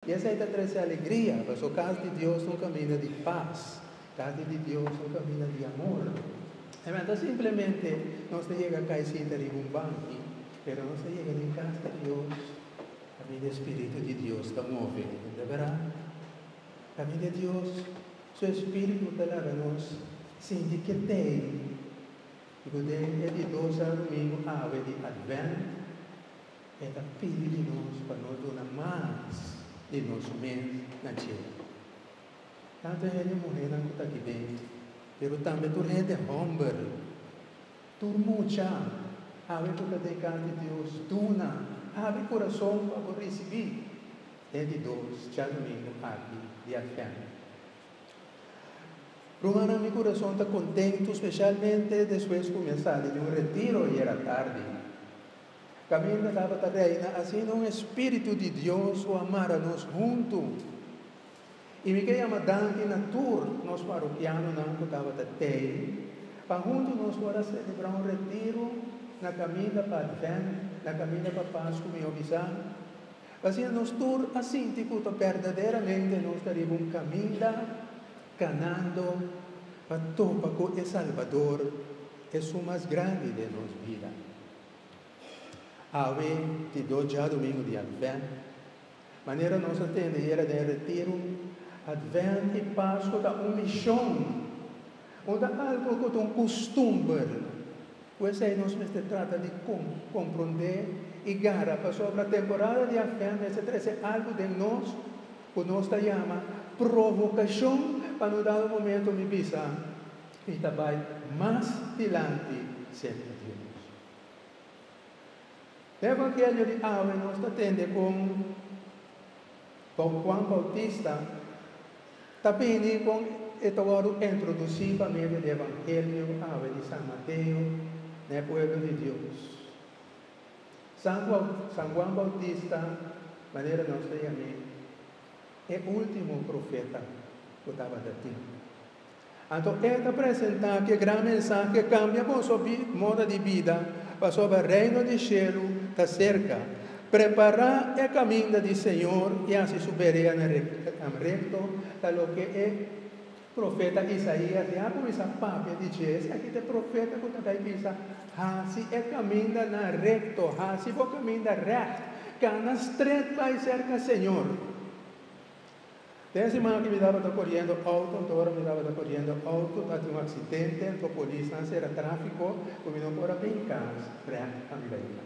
I esei ta trese alegria, paso kas di Dios ta un kaminda di pas, kas di di Dios ta un kaminda di amor. Amen. Nta simplemente nos ta yega kai sinta riba un banki, pero nos ta yega den kas di Dios kaminda e spiritu di Dios ta move. Nta bera? Kaminda Dios su espiritu ta laga nos sinti ketei. I ku den e di dos a rumingu awe di Advent, E ta pidi di nos pa no duna mas di nos mes na cielo. Tantu hende muhénan ku ta di ben, pero tambe tur hende hòmber, tur mucha, hawe ku ta den kas di Dios, duna, abri kurason pa bo risibí e di dos djadumingu aki di Advènt. Rumannan, mi kurason ta kontentu, spesialmente despues ku mi a sali di un retiro ayer atardi. Kaminda tabata reina asina un espiritu di Dios ku a mara nos huntu. I mi ke yama danki na tur nos parokianonan ku tabata tei pa huntu nos por a selebrá un retiru na kaminda pa Advènt, na kaminda pa Pas ku mi obi sa. Pasobra nos tur a sinti ku ta berdaderamente nos ta riba un kaminda kanando pa topa ku e Salbador, e Su Mas Grandi den nos bida. Awe di dos djadumingu di Advènt, manera nos a tende era den retiru, Advènt i Paskua ta un mishon, no ta algu ku ta un kustumber ku esei nos mester trata di komprondé i gara. Pasobra temporada di Advènt mester trese algu den nos ku nos ta yama provokashon pa no dal un momentu mi bisa. I ta bai mas dilanti semper juntos. E evangelio di awe nos ta tende con Don Juan Bautista ta bini con e ta wordo introduci pa medio di e evangelio awe di San Mateo na e pueblo di Dios. San Juan Bautista manera nos ta yam'e e ultimo profeta cu tabatin. Anto E ta presentá ku e gran mensahe ke kambia boso moda di bida, pasobra Reino di shelu ta serka. Prepará e kaminda di Señor i hasi Su bereanan rekto, ta loke e profeta Isaías ya a kuminsá papia di dje. Esaki ta e profeta ku ta bai bisa, Hasi e kamindanan rekto, hasi bo kaminda règt, kana strèt bai serka Señor. Den siman aki miraba ta koriendo outo, anto ora miraba ta koriendo outo ta tin un aksidente, anto polisnan sera trafiko ku mi no por a bin kas frènt a mi beita.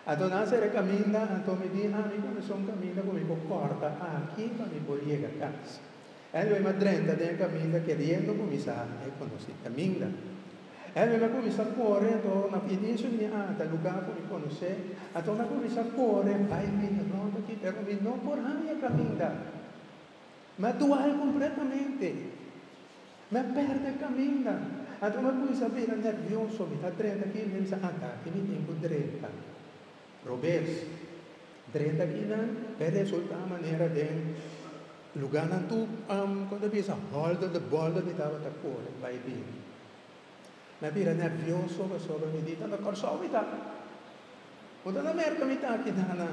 Anto nan sera e kaminda, anto mi di ami ku mi son kaminda ku mi por kòrta aki pa mi por yega kas. Anyway mi a drenta den e kaminda keriendo ku mi sa e konosí kaminda. Henry a cuminsa core anto na pie bien su niña Ana ta lugar cu mi conoce anto na cuminsa core bay bini rond aki pero mi no por haya caminda mi a dual completamente mi a perde caminda anto mi a cuminsa bira nervioso mi ta drenta aki mi a bisa a taki mi tin cu drenta. Robes, Drenta Kinan e resulta manera den luganan tu kon ta bisa hòlder de bòlder mi tabata kore bai bini. Mi a bira nervioso pasobra mi di, Tanda Kòrsou mi ta? Bo ta na Merka mi ta aki nana?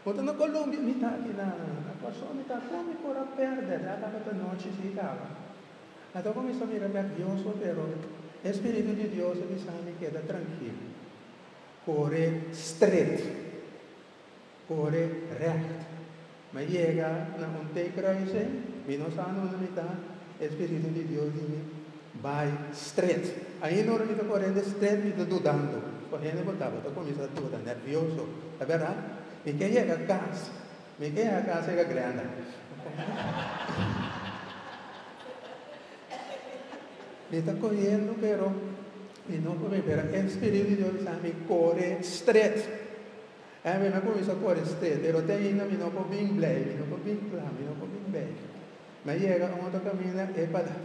Bo ta na Kolumbia mi ta aki nana? Na Kòrsou mi ta? Kon mi por a pèrdè dea tabata nochi si kaba? Mi a tabata kuminsá bira nervioso pero e spiritu di Dios a bisami keda trankil. Kore stret, kore rècht. Mi a yega na un teken ku a bis'é, Mi no sa anon mi ta, e Spiritu di Dios di mi bai stret. Ainda ora mi ta korente stret mi ta dudando, ku hende ku tabata ku mi sa duda, nervioso. Ta bera? Mi ke yega kas, mi ke yega kas yega Glenda. Mi ta koyendo pero. Mi no por mira e Spiritu di Dios bisa mi kore stret. E'e mi a kuminsá kore stret, pero te ainda mi no por bin blij, mi no por bin kla, mi no por bin bèk. Mi a yega unda ta kaminda e pala,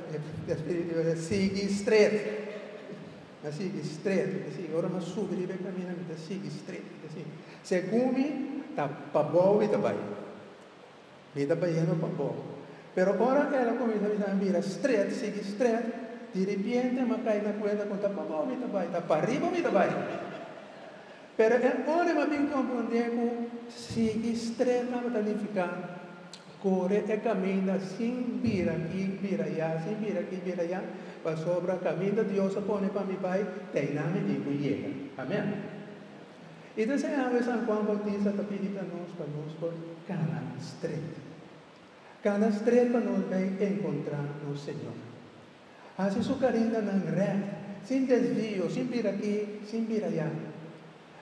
e Spiritu di Dios a bisa, sigui stret, mi a sigui stret, mi ta sigui. Ora mi a subi riba e kaminda mi ta sigui stret, mi ta sigui. Segun mi, ta pabou mi ta bai. Mi ta bayendo pa bo. Pero ora el a cuminsa bisa mi bira stret, sigui stret, diripiente mi a cay na cuenta cu ta pa bo mi ta bay, ta pariba mi ta bay. Pero e ora mi a bin comprende cu sigui stret tabata nifica core e caminda sin bira aki, bira aya, sin bira aki, bira aya, pasobra caminda Dios a pone pa mi bay, te aynan mi tin cu yega. Amen. I ta ser awe San Juan Bautista ta pidi pa nos pa nos por kana stret. Kana stret pa nos bai enkontrá nos Señor. Hasi Su karindanan rèt, sin desvio, sin bira aki, sin bira ayá.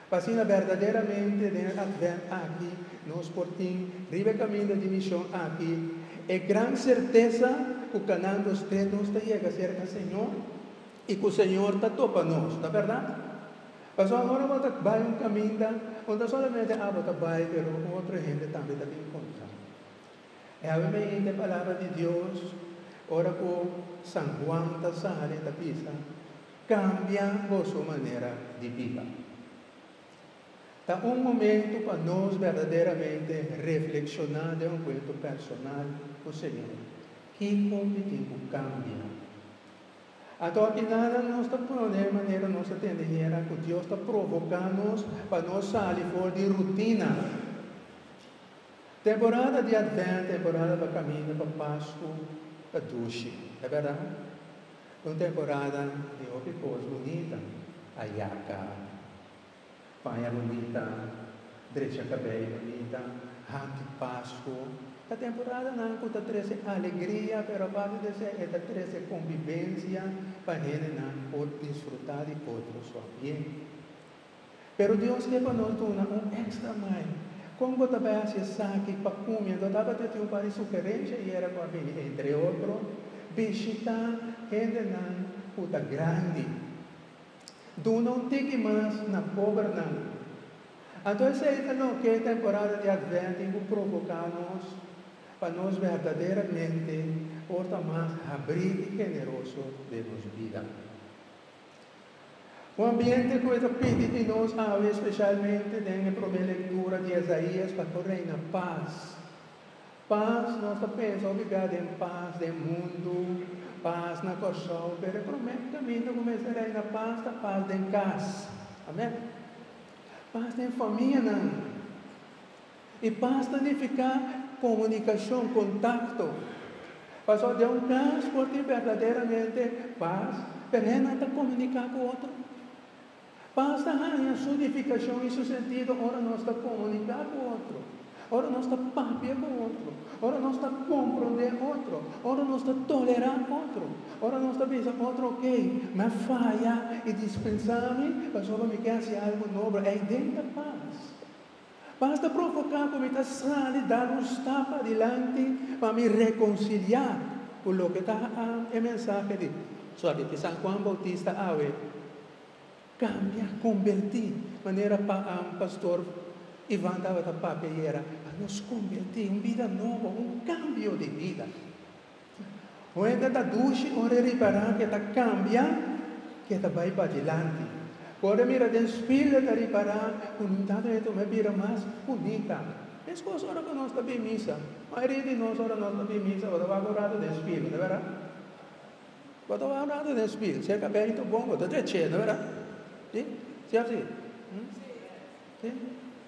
Pa asina berdaderamente den e Advent aki nos por tin, riba e kaminda di mishon aki, e gran sertesa ku kanando stret nos ta yega serka Señor. I ku Señor ta topa nos, ta berdad? Pasobra ora bo ta bai un kaminda, no ta solamente abo ta bai, pero otro hende tambe ta bin kontra. E habi mi hint e palabra di Dios ora ku San Juan ta sali, ta bisa, Kambia boso manera di biba. Ta un momentu pa nos berdaderamente reflekshoná den onkuentro personal ku Señor, Kiko mi tin ku kambia? Anto aki nada nos ta pone manera nos ta tende hera ku Dios ta provoká nos pa nos sali for di rutina. Temporada di Advènt, temporada pa kaminda pa Pasku, ta dushi, e bèrdat? Un temporada di hopi kos bunita a yaka. Paña bunita, drecha kabello bunita, haki Pasco. Ta temporadanan cu ta trece alegria, pero aparte di esey e ta trece convivencia pa hendenan por disfruta di otro su bien. Pero Dios ke pa nos duna un extra mai. Con bo ta bay haci esaki pa cumi? Enton tabatin tin un par di sugerencia y era cu a bini entre otro, bishita hendenan cu ta grandi. Duna un tiki mas na pober nan. Anto esei ta loke e temporada di Advent tin ku provoká nos pa nos berdaderamente porta mas habrí i generoso den nos bida. Un ambiente ku e ta pidi di nos awe, spesialmente den e promé lektura di Esaías, pa ku reina pas. Pas, nos ta pensa hopi bia den pas den mundu, pas na Kòrsou, pero e promé kaminda ku mester reina pas ta pas den kas. Amèn. Pas den famianan. I pas ta nifiká komunikashon, kontakto. Pasó den un kas por tin berdaderamente pas, pero hennan ta komuniká ku otro. Pas ta haña su nifikashon i su sentido ora nos ta komuniká ku otro, ora nos ta papia ku otro, ora nos ta komprondé otro, ora nos ta tolerá otro, ora nos ta bisa otro oké, mi a faya i dispensá mi pasobra mi ke hasi algu nobel. Ei den ta pas. Pas ta provoká ku mi ta sali dal un stap adilanti pa mi rekonsiliá ku loke ta e mensahe di Suakichi San Juan Boutista awe. Kambia, kombertí. Manera pa an, Pastor Ivan tabata papia ayer, a nos kombertí, un bida nobo, un kambio di bida. Un hende ta dushi, ora e ripará ku e ta kambia, ku e ta bai padilanti. Ku ora e mira den spil, e ta ripará ku no tabata bien, koma e bira mas bunita. Meskos ora ku nos ta bin misa. Mayoria di nos, ora nos ta bin misa, ora wak un ratu den spil, no e berdad? Bo ta wak ratu den spirit. Si e cabelito bon, bo ta trecheno, wera? Si? Si of si? Si?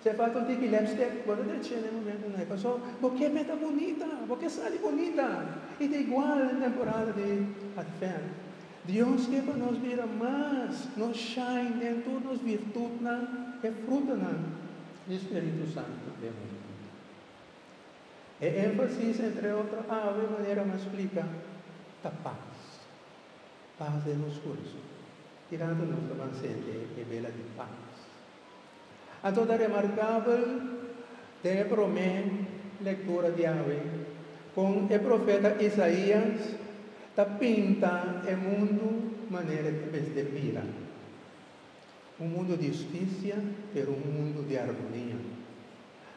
Si e falta un tiki lipstick, bo ta trecheno e momentonan ei. Pasobra bo ke mester bunita, bo ke sali bunita. I ta igual den temporada di Advent. Dios ke pa nos bira mas, nos shine den tur nos virtutnan, e frutanan di Spiritu Santu den nos bida. E énfasis, entre otro ave, manera nos splika, ta pas. Pas den nos kurso. Kirato nos lo ban sente e bela di pas. Anto ta remarkabel den e promé lektura di awe kon e profeta Isaías ta pinta e mundu manera di mester mira, un mundu di hustisia, pero un mundu di armonia.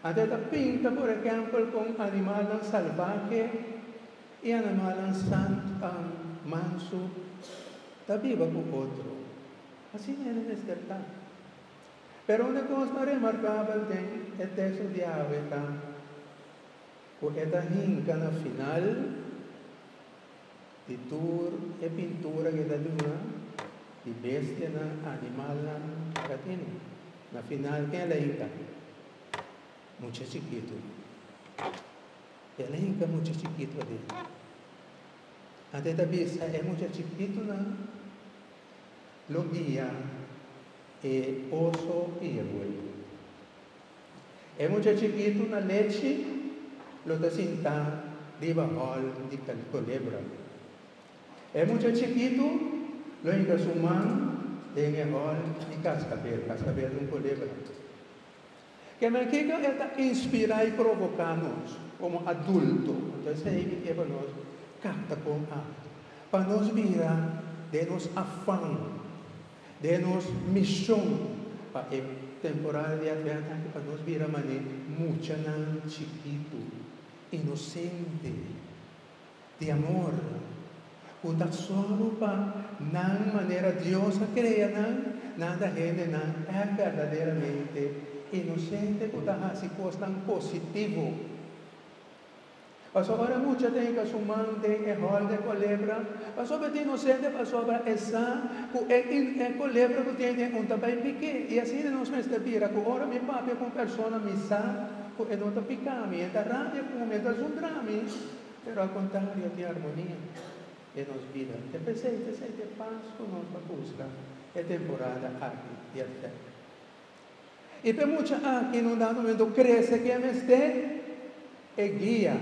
Ante a ta pinta por ehempel con animalnan salbahe y animalnan sant, manso, ta biba cu otro. Asina e mester ta. Pero unda cos ta remarcabel den e texto di awe ta cu e ta hinca na final. di tur e pintura ku e ta duna di bestianan, animalnan e ta tene. Na final ken el a hita? Mucha chikitu. El a hita mucha chikitu aden. Anto e ta bisa e mucha chikitunan lo guia e oso ku e rue. E mucha chikitu na lechi lo ta sintá riba hòl di kolebra. E mucha chikitu lo hinka su man den e hòl di kaskabel. Kaskabel ta un kolebra. Ke men kiko e ta inspirá i provoká nos komo adulto? Lo ta esei ki ke pa nos kapta kon akto pa nos bira den nos afan. Den nos mishon pa e temporada di Advent aki pa nos bira manera muchanan chikitu, inosente, di amor, ku ta solo pa nan manera Dios a krea nan, nan ta hendenan e berdaderamente inosente ku ta hasi kosnan positivo. Pasobra mucha ta hinca su man den e hol dje colebra, pasobra ta inocente, pasobra esa cu e e colebra cu tin den un ta bay pique. Y asina nos mester bira cu ora mi papia cu un persona mi sa cu e no ta pica mi, e ta rabia cu mi, e ta zundra mi, pero al contrario tin armonia den nos bida. E pesey, pesey t'e paz cu nos ta busca e temporada aki di efecto. I p'e mucha aki no dado momento krese ke a mester e guia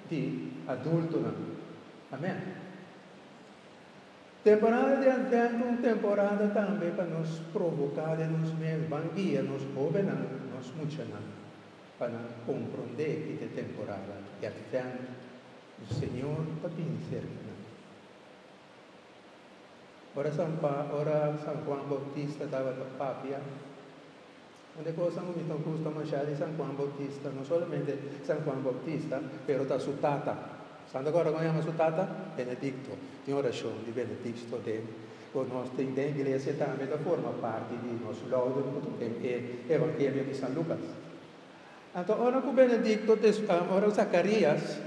di adultonan. Amen. Temporada di Advento un temporada tambe pa nos provoká den nos mes, Ban guia nos hóbennan, nos muchanan pa nan komprondé ki ta e temporada di Advento, ku Señor ta bini serka nan. Ora San Pa, ora San Juan Bautista tabata papia, un de cosa mi ta gusta masha di San Juan Bautista, no solamente San Juan Bautista, pero ta su tata. San ta kor kome yama su tata? Benedicto. Tin orashon di Benedicto den, ku nos tin den iglesia tambe ta forma parti di nos louden ku ta den e Evangelio di San Lucas. Anto ora ku Benedicto, ora Zacarias.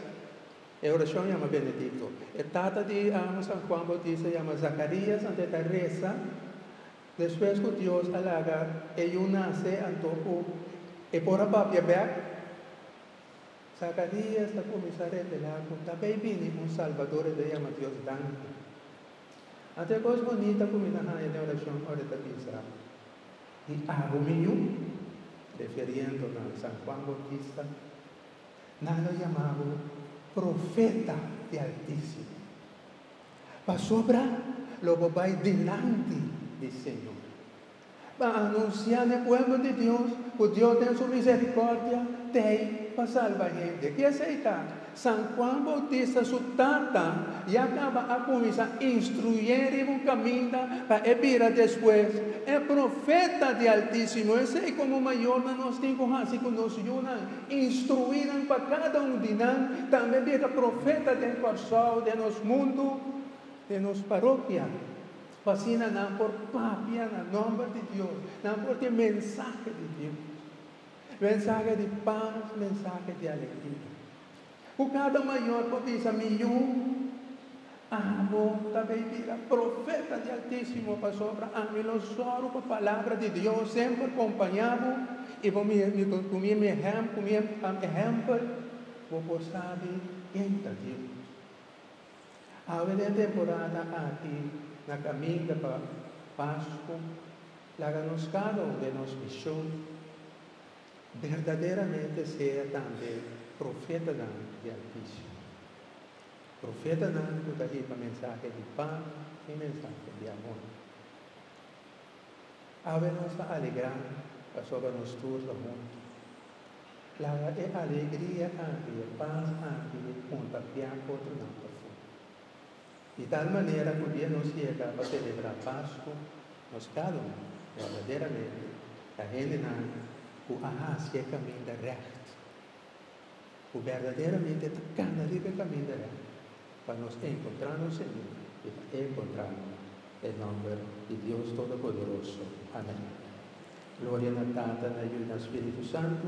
E orashon yama Benedicto. E tata di amo San Juan Bautista yama Zacarías anto e ta resa. Despues cu Dios a laga e yu nace anto cu e por a papia bek, Zacarías ta cuminsa revela cu ta bay bini un Salvador y lo yama Dios Danki. Anto e cos bonita cu mi ta haya den orashon ora e ta bisa di agu mi yu, refiriendo na San Juan Bautista. Nan lo yama bo profeta di Altisimo, pasobra lo bo bai dilanti di Señor pa anunsiá n'e pueblo di Dios ku Dios den su miserikòrdia t'ei pa salba hende. Ke esei ta? San Juan Boutista su tata ya kaba a kuminsá instruyé riba un kaminda pa e bira despues e profeta di Altisimo. Esei komo mayornan nos tin ku hasi ku nos yunan. Instruí nan pa kada un di nan tambe biaca profeta den Kòrsou, den nos mundu, den nos paropia, pa asina nan por papia na nòmber di Dios, nan por tin mensahe di Dios, mensahe di pas, mensahe di alegria. Ku kada mayor por bisa, Mi yu, abo ta bay bira profeta di Altisimo, pasobra ami lo sòru ku palabra di Dios semper kompañá bo, i bo ku mi ehèmpel bo por sabi ken ta Dios. Awe den e temporada aki na kaminda pa Pasku, laga nos kada un den nos mishon. Berdaderamente sea tambe profetanan di Altisio, profetanan ku ta hiba mensahe di pas i mensahe di amor. Awe nos ta alegrá pasobra nos tur ta huntu. Laga e alegria aki i e pas aki kontagiá otronan pasobra. di tal manera ku dia nos yega pa selebrá Pasku, nos kado verdaderamente ta hendenan ku a hasi e kaminda règt, ku verdaderamente ta kana riba e kaminda règt, pa nos enkontrá nos Señor i pa enkontrá e nòmber di Dios Todopoderoso. Amèn. Gloria na Tata, na Yu, na Spiritu Santu.